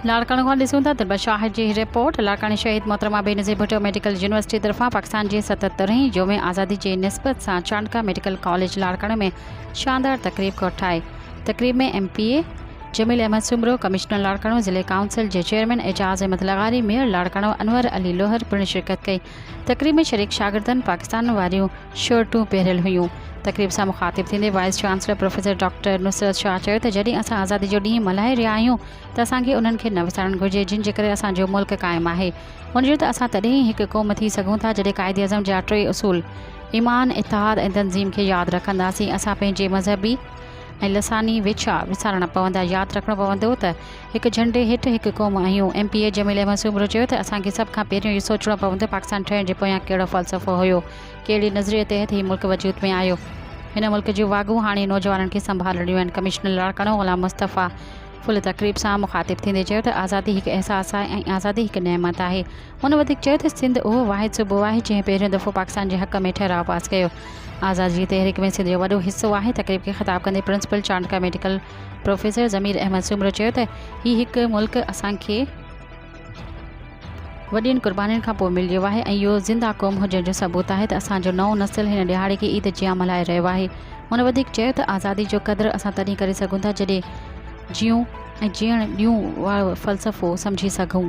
لاڙڪاڻو کان ڏسون ٿا ته شاهد جي رپورٽ لاڙڪاڻي شهيد محترمه بينظير ڀٽو ميڊيڪل يونيورسٽي طرفان پاڪستان جي ستهترهين يوم آزادي جي نسبت سان چانڊڪا ميڊيڪل ڪاليج لاڙڪاڻو ۾ شاندار تقريب ڪوٺائي تقريب ۾ M P A Jamil Ahmed Soomro commissioner Larkana ضلعي ڪائونسل جي چيئرمين اعجاز احمد لغاري ميئر لاڙڪاڻو انور علي لوهر پڻ شرڪت ڪئي تقريب ۾ شريڪ شاگردن پاڪستان واريون شرٽون پهريل هيون. تقريب سان مخاطب ٿيندي vice chancellor professor doctor Nusrat Shah چيو ته جڏهن اسان آزادي جو ڏينهن ملهائي رهيا آهيون ته اسان کي انهن کي نه وسارڻ گهرجي جن جي ڪري اسان جو ملڪ قائم آهي ان جو ته اسان تڏهن ئي هڪ قوم ٿي سگهون ٿا جڏهن قائد اعظم جا ٽي اصول ايمان، اتحاد ۽ تنظيم کي ياد رکنداسين اسان پنهنجي مذهبي ۽ لساني ويڇا وسارڻا پوندا ياد رکڻو پوندو ته هڪ جهنڊي هيٺ هڪ قوم آهيون. M P A Jamil Ahmed Soomro چيو ته اسان کي سڀ کان پهريون اهو سوچڻو پوندو پاڪستان ٺهڻ جي پويان ڪهڙو فلسفو هيو، ڪهڙي نظريي تحت هي ملڪ وجود ۾ آيو. هن ملڪ جون واڳون هاڻي نوجوانن کي سنڀالڻيون آهن. ڪمشنر لاڙڪاڻو غلام مصطفيٰ ڦل تقريب سان مخاطب ٿيندي چيو ته آزادي هڪ احساس آهي ۽ آزادي هڪ نعمت آهي. هن وڌيڪ چيو ته سنڌ اهو واحد صوبو آهي جنهن پهريون دفعو پاڪستان جي حق ۾ ٺهراء پاس ڪيو. آزادي جي تحريڪ ۾ سنڌ جو وڏو حصو آهي. تقريب کي خطاب ڪندي principal Chandka medical professor Zameer Ahmed Soomro چيو ته هي هڪ ملڪ اسان کي وڏين قربانين کان پوء مليو آهي ۽ اهو زنده قوم هجڻ جو ثبوت آهي ته اسان جو نئون نسل هن ڏهاڙي کي عيد جيان ملهائي رهيو آهي. هن وڌيڪ چيو ته آزادي جو قدر اسان تڏهن ڪري سگهون ٿا جڏهن جيئون ۽ جيئڻ ڏيون وارو فلسفو سمجهي سگهون.